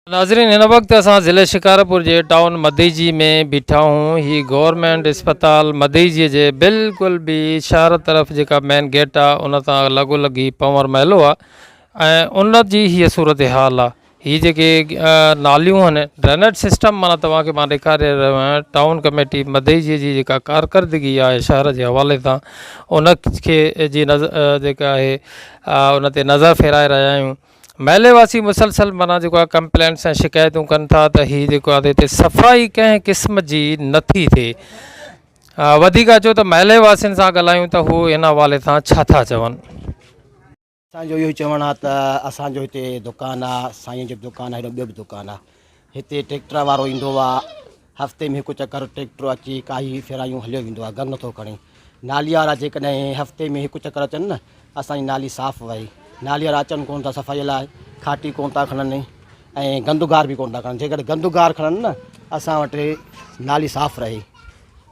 ناظرين هن وقت اسان ضلعي شڪارپور جي ٽائون مديجي ۾ بيٺا هون هي گورنمينٽ اسپتال مديجي جي بلڪل بي شهر طرف جيڪا مين گيٽ آ ان تان لڳو لڳ هي پنور محلو آ ۽ ان جي هي صورت حال آ هي جيڪي ناليون هن ڊرينيٽ سسٽم معنيٰ توهان کي مان ڏيکاري رهيو آهيان ٽائون ڪميٽي مديجي جي جيڪا ڪارڪردگي آهي شهر جي حوالي سان ان کي جي نظر جيڪا آهي ان تي نظر ڦيرائي رهيا آهيون محلي واسي مسلسل مانا جيڪو آهي ڪمپلينس ۽ شڪايتون ڪن ٿا ته هي جيڪو آهي هتي صفائي ڪنهن قسم جي نٿي ٿئي وڌيڪ اچو ته محلي واسين سان ڳالهايون ته هو ان حوالي سان ڇا ٿا چون اسان جو اهو ئي چوڻ آهي ته اسان جو هتي دڪان آهي سائين جو به دڪان آهي هيڏو ٻيو به دڪان آهي هتي ٽريڪٽر وارو ايندو آهي هفتي ۾ هڪ چڪر ٽريڪٽر اچي ڪاهي ڦيرايون هليو ويندو آهي گهر نٿو کڻي نالي وارا جيڪڏهن هفتي ۾ هڪ چڪر اچن نه اسان جي نالي صاف وهي نالي وارا اچن ڪونه ٿا صفائي لاء کاٽي ڪونه ٿا کڻن ۽ گند گار به ڪونه ٿا کڻن جيڪڏهن گند گار کڻن نه اسان وٽ نالي صاف رهي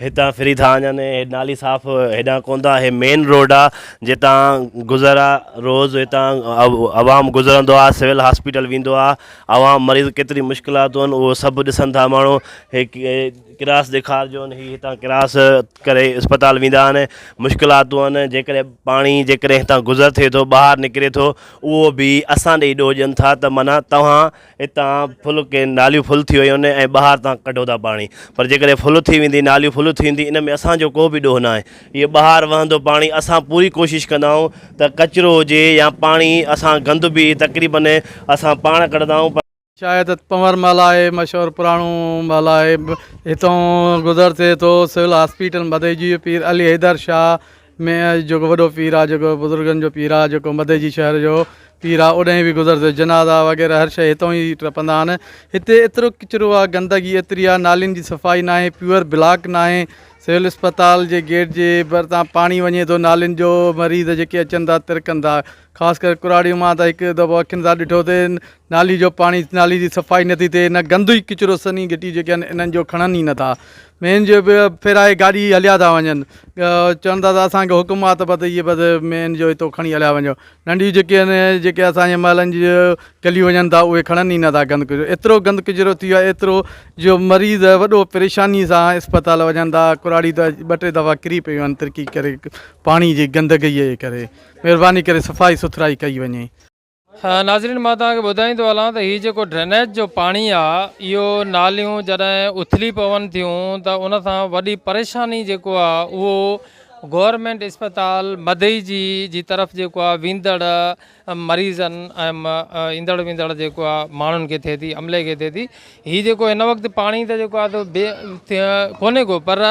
هتان ڦري ٿا وڃن ۽ هي نالي صاف هيڏانهن ڪونه ٿا هي مين روڊ آ جتان گذر آ روز هتان عوام گذرندو آ سول هاسپيٽل ويندو آ عوام مريض ڪيتري مشڪلاتون آهن اهو سڀ ڏسن ٿا ماڻهو هي ڪراس ڏيکار جو هي هتان ڪراس ڪري اسپتال ويندا آهن مشڪلاتون آهن جيڪڏهن پاڻي جيڪڏهن هتان گذر ٿئي ٿو ٻاهر نڪري ٿو اهو بي اسان ڏي ڏوهه ڏين ٿا ته معنيٰ توهان اتان ڦل ڪي ناليون ڦل ٿي ويون آهن ۽ ٻهار تان ڪڍو ٿا پاڻي پر جيڪڏهن ڦل ٿي ويندي ناليون ڦل ٿي ويندي ان ۾ اسان جو ڪو به ڏوهه ناهي هيء ٻهار وهندو پاڻي اسان پوري ڪوشش ڪندا آهيون ته ڪچرو هجي يا پاڻي اسان گند به تقريبن اسان پاڻ ڪڍندا آهيون پر شايد پنور محل آهي مشهور پراڻو محل آهي هتان گذر ٿئي ٿو سول هاسپيٽل مدئي جيو پير علي حيدر شاهه ۾ جيڪو وڏو پير آ جيڪو بزرگن جو پير آ جيڪو مدئي جي شهر جو پير آ اوڏانهن به گذر ٿيو جنازا وغيره هر شيء هتو ئي ٽپندا آهن هتي ايترو ڪچرو آ گندگي ايتري آ نالين جي صفائي ناهي پيور بلاڪ ناهي سول اسپتال جي گيٽ جي ڀرتان پاڻي وڃي ٿو نالين جو مريض جيڪي اچن ٿا ترڪن ٿا خاص ڪري ڪراڙي مان ته هڪ دفعو اکين سان ڏٺو ته نالي جو پاڻي نالي جي صفائي نٿي ٿئي نه گندو ئي ڪچرو سني گٽي جيڪي آهن انهن جو کڻن ئي نٿا مين جو به ڦيرائي گاڏي هليا ٿا وڃن. چون ٿا ته اسان کي حڪم آ ته بس هيء بس مين جو هتو کڻي هليا وڃو. ننڍيون جيڪي آهن جيڪي اسان جي محلن جي گليون وڃن ٿا اهي کڻن ئي نٿا گند ڪچرو ايترو گند ڪچرو ٿي ويو آهي ايترو جو مريض وڏو پريشاني سان اسپتال وڃن ٿا ڪراڙي ته ٻه ٽي دفعا ڪري پيون آهن ترڪي ڪري پاڻي جي گندگئي جي ڪري مهرباني ڪري صفائي سٿرائي ڪئي وڃي. ناظرين مان توهان کي ٻڌائيندو هلان ته هي جيڪو ڊرينيج جو پاڻي آ اهو ناليون جڏهن اٿلي پون ٿيون ته ان سان وڏي پريشاني جيڪو آ اهو گورنمينٽ اسپتال مدئي جي جي طرف جيڪو آ ويندڙ مريضن ۽ ايندڙ ويندڙ جيڪو آ ماڻهن کي ٿئي ٿي عملي کي ٿئي ٿي هي جيڪو هن وقت پاڻي ته جيڪو آ ته بي ڪونهي ڪو پر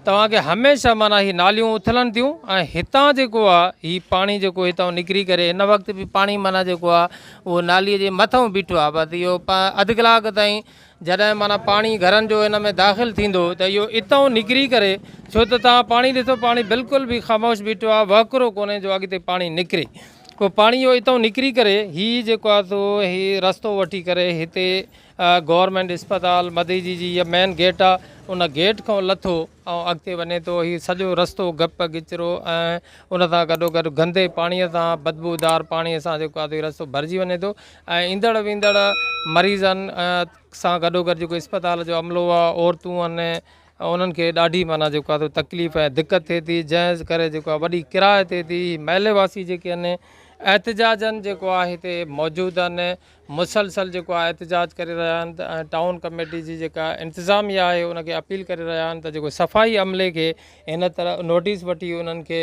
توهان کي هميشه معنيٰ هي ناليون اٿلن ٿيون ۽ هتان جيڪو آ هي پاڻي جيڪو هتان نڪري ڪري هن وقت به پاڻي معنيٰ جيڪو آ اهو نالي جي مٿئون بيٺو آ بس اهو اڌ ڪلاڪ تائين جڏهن معنيٰ پاڻي گهرن جو هن ۾ داخل ٿيندو ته اهو اتان نڪري ڪري ڇو ته توهان پاڻي ڏسو پاڻي بلڪل به خاموش بيٺو آ وهڪرو ڪونهي جو اڳتي پاڻي نڪري پوء پاڻي اهو اتان نڪري ڪري هي جيڪو آ سو هي رستو وٺي ڪري هتي گورنمينٽ اسپتال مديجي جي هيء مين گيٽ آ ان گيٽ کان لٿو ۽ اڳتي وڃي ٿو هي سڄو رستو گپ گچرو ۽ ان سان گڏو گڏ گندي پاڻي سان بدبو دار پاڻي سان جيڪو آ هي رستو ڀرجي وڃي ٿو ۽ ايندڙ ويندڙ مريضن سان گڏو گڏ جيڪو اسپتال جو عملو آ عورتون ان انهن کي ڏاڍي معنيٰ جيڪو آ تڪليف ۽ دقت ٿئي ٿي جنهن ڪري جيڪو آ وڏي ڪراهه ٿئي ٿي محلي واسي جيڪي آهن احتجاجن جيڪو آ هتي موجود آهن مسلسل جيڪو آهي احتجاج ڪري رهيا آهن ته ۽ ٽائون ڪميٽي جي جيڪا انتظاميه آهي ان کي اپيل ڪري رهيا آهن ته جيڪو صفائي عملي کي هن طرح نوٽيس وٺي انهن کي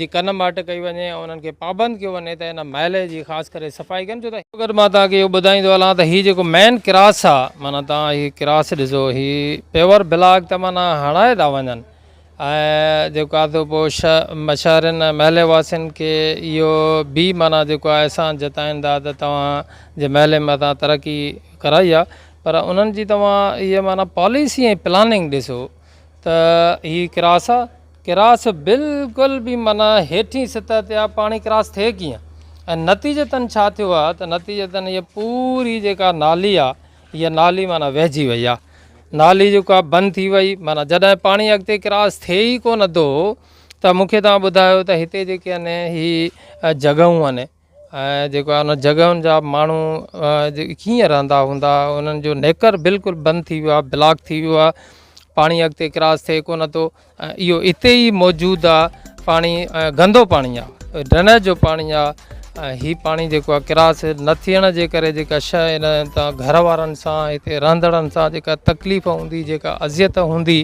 جي ڪن ماٽ ڪئي وڃي ۽ انهن کي پابند ڪيو وڃي ته ان محلي جي خاص ڪري صفائي ڪن ڇو ته گڏ مان توهان کي اهو ٻڌائيندو هلان ته هي جيڪو مين ڪراس آهي معنيٰ توهان هي ڪراس ڏسو هي پيور بلاڪ ته معنيٰ هڻائي ٿا وڃن ۽ جيڪو آدو پوء مشاعرين ۽ محلي واسين کي اهو بي معنيٰ جيڪو آهي احسان جتائين ٿا ته توهان جي محلي ۾ اسان ترقي ڪرائي آهي پر انهن جي توهان اهي معنيٰ پاليسي ۽ پلاننگ ڏسو ته هي ڪراس آهي ڪراس بلڪل بي معنيٰ هيٺين سطح تي آهي پاڻي ڪراس ٿئي ڪيئن ۽ نتيجتن ڇا ٿيو آهي ته نتيجتن هي پوري جيڪا نالي آهي هيء نالي معنيٰ وهجي وئي آ. نالي جيڪو آ بند ٿي وئي معنيٰ جڏهن پاڻي اڳتي ڪراس ٿئي ئي ڪونه ٿو ته مون کي توهان ٻڌايو ته هتي جيڪي آهن هي جڳهون آهن ۽ جيڪو آهي ان جڳهن جا ماڻهو ڪيئن رهندا هوندا انهن جو نيڪر بلڪل بند ٿي ويو آ بلاڪ ٿي ويو آ پاڻي اڳتي ڪراس ٿئي ڪونه ٿو اهو اتي ئي موجود آ پاڻي گندو پاڻي آ ڊرينيج جو پاڻي آ هي پاڻي جيڪو آ ڪراس نه ٿيڻ جي ڪري جيڪا شا هتان گهر وارن سان هتي رهندڙن سان جيڪا تڪليف هوندي جيڪا اذيت هوندي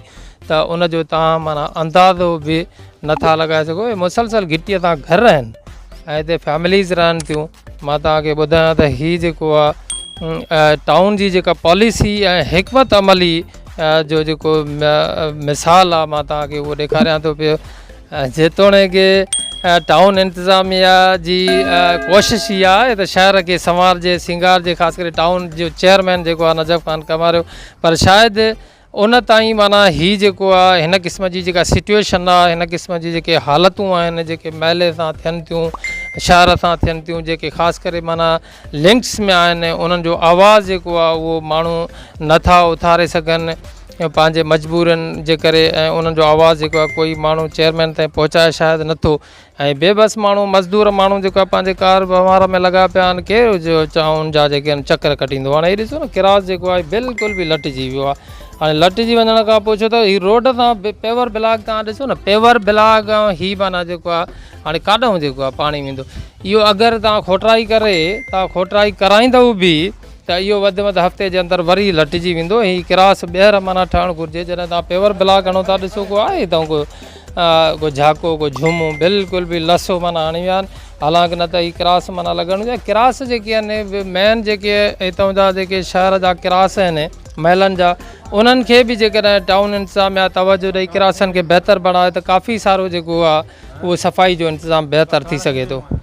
ته ان جو تان معنيٰ اندازو به نٿا لڳائي سگهو مسلسل گهٽيء تان گهر آهن ۽ هتي فيمليز رهن ٿيون مان توهان کي ٻڌايان ته هي جيڪو آهي ٽائون جي جيڪا پاليسي ۽ حڪمت عملي جو جيڪو مثال آهي مان توهان کي اهو ڏيکاريان ٿو پيو جيتوڻيڪ ٽائون انتظاميا جي ڪوشش هي آهي ته شهر کي سنوارجي سينگارجي خاص ڪري ٽائون جو چيئرمين جيڪو آهي نجف خان ڪماريو پر شايد ان تائين معنيٰ هي جيڪو آهي هن قسم جي جيڪا سچويشن آهي هن قسم جي جيڪي حالتون آهن جيڪي محلي سان ٿين ٿيون شهر سان ٿين ٿيون جيڪي خاص ڪري معنيٰ لنڪس ۾ آهن انهن جو آواز جيڪو آهي اهو ماڻهو نٿا اٿاري سگهن پنهنجي مجبورين جي ڪري ۽ انهن جو آواز جيڪو آهي ڪوئي ماڻهو چيئرمين تائين پهچائي شايد نٿو ۽ بي بس ماڻهو مزدور ماڻهو جيڪا پنهنجي ڪار وهنوار ۾ لڳا پيا آهن ڪير جو چانهن جا جيڪي آهن چڪر ڪٽيندو هاڻي هي ڏسو نه ڪراس جيڪو آهي بلڪل به لٽجي ويو آهي هاڻي لٽجي وڃڻ کان پوء ڇو ته هي روڊ تان پيور بلاڪ تان ڏسو نه پيور بلاڪ هي معنيٰ جيڪو آهي هاڻي ڪاڏهون جيڪو آهي پاڻي ويندو اهو اگر تان کوٽرائي ڪري تان کوٽرائي ڪرائيندو به ته اهو وڌ وڌ هفتي جي اندر وري لٽجي ويندو هي ڪراس ٻيهر معنيٰ ٺهڻ گهرجي جڏهن تان پيور بلاڪ هڻو ٿا ڏسو ڪو آهي هتان ڪو ڪو جهاڪو ڪو جهومو بلڪل به لسو معنيٰ هڻي ويا آهن حالانڪ نه ته هي ڪراس معنيٰ لڳڻ گهرجي ڪراس جيڪي آهن مين جيڪي هتان جا جيڪي شهر جا ڪراس آهن محلن جا انهن کي به جيڪڏهن ٽائون انتظاميا توجه ڏئي ڪراسن کي بهتر بڻائي ته ڪافي سارو جيڪو آهي اهو صفائي جو انتظام بهتر ٿي سگهي ٿو